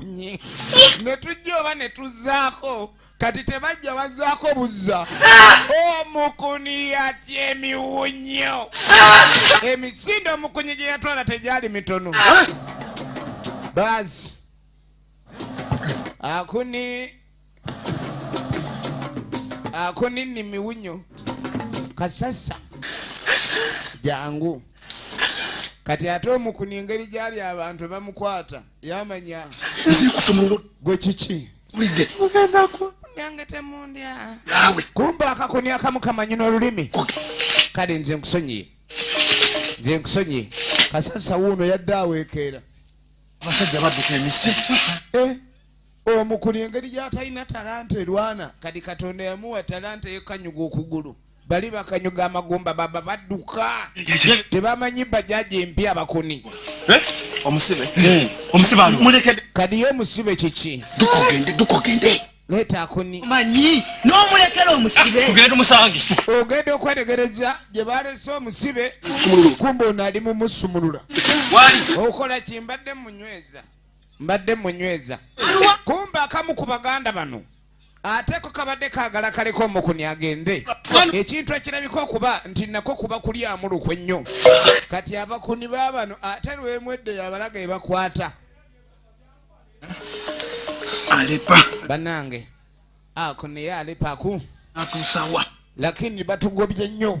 nnyi ne tujja oba ne tuzzaako kati tebajja bazzaako buzza omukuni yatya emiwunyo emisinde omukunyi gye yatwala tegyali mitono bazi akuni ako nini miwunyo kasasa jangu kati ate omukuni engeri gyali abantu bamukwata yamanya gwe kiki kumba akakuni akamu kamanyi n'olulimi kale nze nkusonyiye nze nkusonyiye kasasa wuuno yadde aweekeera abasajja badduka emise eh? omukulu engeri gyatalina talanta erwana kati katonda yamuwa talanta yekanyuga okugulu bali bakanyuga amagumba baba badduka tebamanyi bajaji empya bakuni eh? omusibe eh. omusibe mulekede kadi ye omusibe kiki dukogende dukogende leta akuni manyi nomulekera omusibe ah, tugende tumusange ogenda okwetegereza gye balese omusibe kumba ono ali mumusumulula okola kimbadde munyweza mbadde munyweza kumbe akamu ku baganda bano ate ko kabadde kagala kaleko omukuni agende ekintu ekirabika okuba nti nako kuba kulyamu lukwe nnyo kati abakuni ba bano ate lwemwedde yabalaga ebakwata alipa banange ako naye alipaku atusawa lakini batugobye nnyo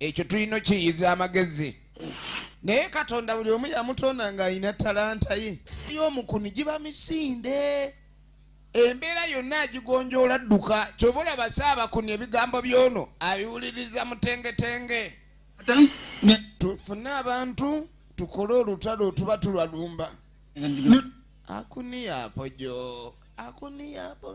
ekyo tulina okiyiza amagezi naye katonda buli omu yamutonda nga alina talanta ye yomukuni giba misinde embeera yonna agigonjoola dduka kyova olaba saabakuni ebigambo byono abiwuliriza mutengetenge tufune abantu tukole olutalo otuba tulwalumba akuniyapo jo akuniyapo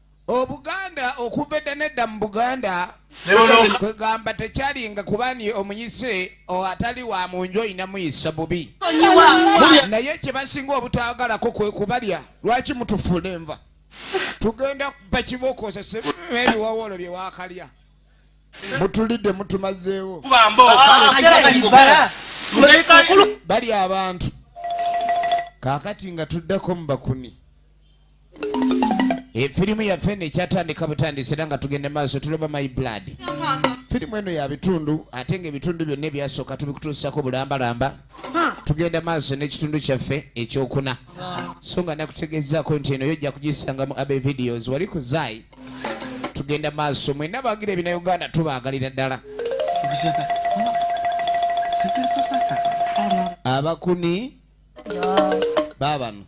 obuganda okuva edda nedda mu buganda kwegamba tekyalinga kubani omuyise atali wa munju olina muyisa bubi naye kyebasinga obutawagalako kwekubalya lwaki mutufula enva tugenda kuba kibokoosa sebiwawolo byewakalya mutulidde mutumazeewo bali abantu kakati nga tuddako mubakuni efirimu eh, yaffe eno ekyatandika butandisi era nga tugende maaso tulaba my blood firimu eno ya bitundu ate nga ebitundu byonna ebyasooka tubikutuusako bulambalamba tugenda maaso n'ekitundu kyaffe ekyokuna so nga nakutegeezaako nti eno yo ojja kugisanga mu abe videos wali ku zai tugenda maaso mwena bagira ebinauganda tubaagalira ddala abakuni baabano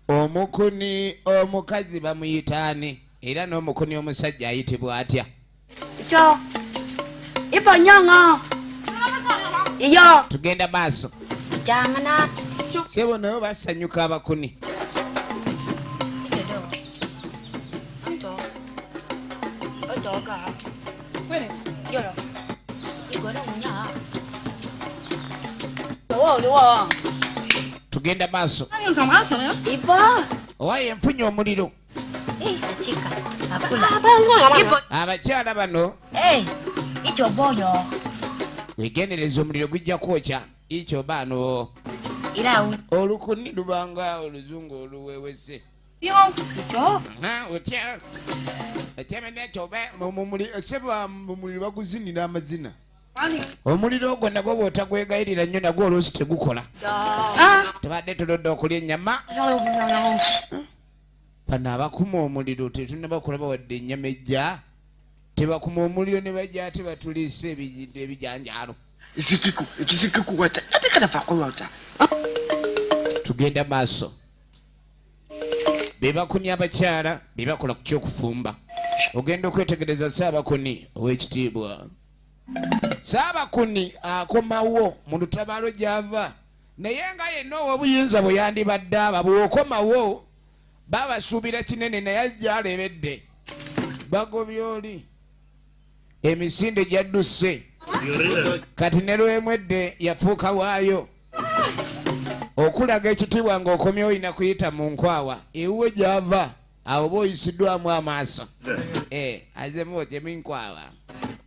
omukuni omukazi bamuyitaani era n'omukuni omusajja ayitibwa atya tugenda maaso sebo nayo basanyuka abakuni tugenda maaso owaye enfunye omuliro eh, abakyala bano eh, wegendereza omuliro gujja kwokya ikyo baano olukuni lubanga oluzungu oluwewese omuliro baguzinira amazina omuliro ogwo nagwo bwotagwegayirira nnyo nagwo oluusi tegukola ah. tubadde tuludde okulya ennyama bano abakuma omuliro tetunabakulaba wadde ennyama ejja tebakuma omuliro ne bajja ate batuliisa ebijanjaalo ezikiku ekizikikuwata atekanafakolwata tugenda maaso bebakuni abakyala bebakola ku kyokufumba ogenda okwetegereza saabakuni owekitiibwa saabakuni akomawo mu lutabaalo gyava naye nga yenna owobuyinza bwe yandibadde aba bweokomawo babasuubira kinene naye ajja alebedde bagobyoli emisinde gyadduse kati ne lwemwedde yafuuka waayo okulaga ekitiibwa ng'okomye olina kuyita mu nkwawa ewuwe gyava awo oba oyisiddwamu amaaso eh, azemu ojemu nkwawa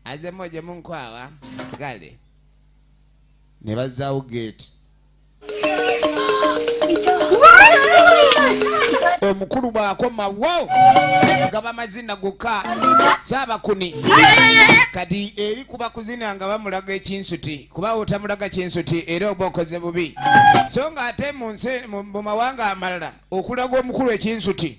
azemu ojemu nkwawa gale ne bazzaawo geeti omukulu bwakoma wo gaba mazina gokka saabakuni kati eri kuba kuzina nga bamulaga ekinsuti kuba otamulaga kinsuti era oba okoze bubi so nga ate mu mawanga amalala okulaga omukulu ekinsuti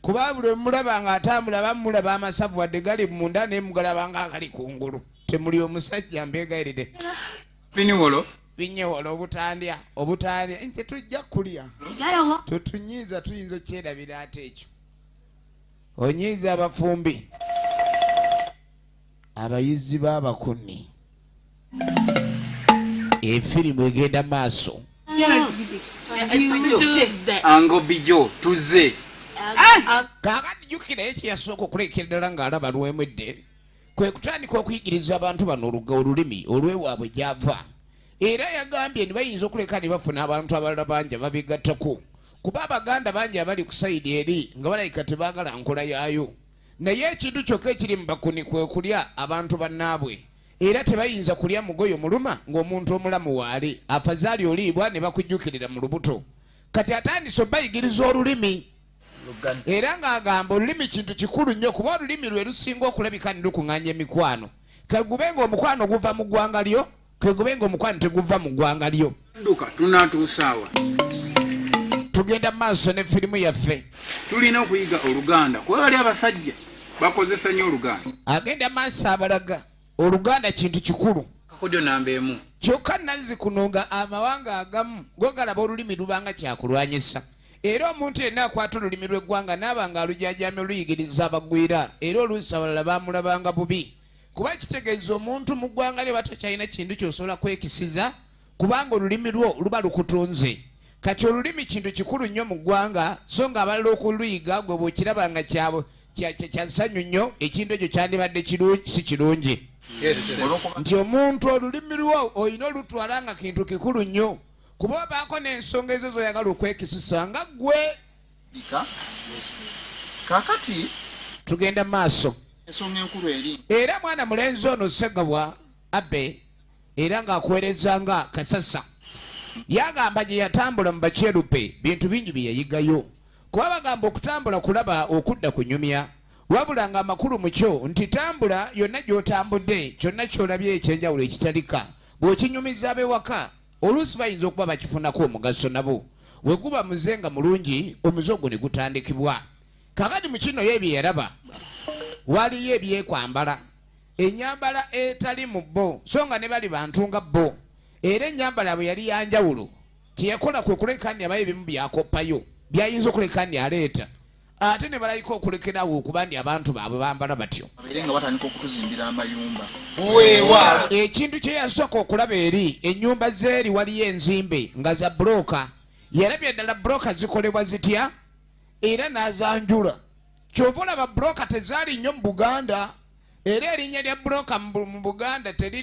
kuba buli omulaba nga atambula bamulaba amasavu wadde gali munda naye mugalaba nga agali ku ngulu temuli omusajja mbeegayiride biniwolo binyewola obutandya obutandya nti tujja kulya tutunyiiza tuyinza okyerabira ate ekyo onyiiza abafumbi abayizzi b'abakunni efirimu egenda maaso angobijo tuze kakati jukira ye kyeyasooka okulekera ddala ng'alaba lwemwedde kwe kutandika okuyigiriza abantu bano oluga olulimi olwewaabwe gyava era yagambye nti bayinza okuleka ne bafuna abantu abalala bangi ababegattako kuba abaganda bangi abali ku sayidi eri nga balabika tebaagala nkola yaayo naye ekintu kyokka ekiri mu bakuni kwe kulya abantu bannaabwe era tebayinza kulya mugoyo muluma ng'omuntu omulamu waali afazaali oliibwa ne bakujjukirira mu lubuto kati atandise obayigiriza olulimi era ng'agamba olulimi kintu kikulu nnyo kuba olulimi lwe lusinga okulabika ne lukuŋŋanya emikwano kagube ng'omukwano guva mu ggwanga lyo kwegube nga omukwano teguva mu ggwanga lyo duka tunatuusaawa tugenda mu maaso ne firimu yaffe tulina okuyiga oluganda kuba bali abasajja bakozesa nnyo oluganda agenda maaso abalaga oluganda kintu kikulu kakodyo namba emu kyokka nazzi kuno nga amawanga agamu go galaba olulimi lubanga kyakulwanyisa era omuntu yenna akwata olulimi lw'eggwanga naaba nga alujajamya oluyigiriza abagwira era oluusi abalala baamulabanga bubi kuba kitegeeza omuntu mu ggwanga lye batakyalina kintu kyosobola kwekisiza kubanga olulimi lwo luba lukutunze kati olulimi kintu kikulu nnyo mu ggwanga so nga abalala okuluyiga gwe bwekiraba nga kyansanyu nnyo ekintu ekyo kyandibadde si kirungi nti omuntu olulimi lwo olina olutwala nga kintu kikulu nnyo kuba obaako n'ensonga ezo zoyagala okwekisisa nga gwe kakati tugenda maaso ensonga enkulu eri nti era mwana mulenzi ono ssegabwa abbe era ng'akuweereza nga kasasa yagamba gye yatambula mu bakyerupe bintu bingi bye yayigayo kuba bagamba okutambula kulaba okudda ku nyumya wabula nga amakulu mu kyo nti tambula yonna gy'otambudde kyonna ky'olabye ekyenjawulo ekitalika bw'okinyumiza ab'ewaka oluusi bayinza okuba bakifunako omugaso nabo we guba muze nga mulungi omuze ogwo ne gutandikibwa kakati mukino ye byeraba waliyo ebyekwambala enyambala etali mu bo so nga ne bali bantu nga bo era enyambala bwe yali yanjawulo kyeyakola kwe kuleka ndi abayo ebimu byakoppayo byayinza okuleka ndi aleeta ate ne balayika okulekerawo okuba ndi abantu baabwe bambala batyo ekintu kye yasooka okulaba eri ennyumba zeeri waliyo enzimbe nga za bulooka yalabye ddala bulooka zikolebwa zitya era nazanjula kyova olaba buloka tezaali nnyo mu buganda era erinnya lya buloka mu buganda teriri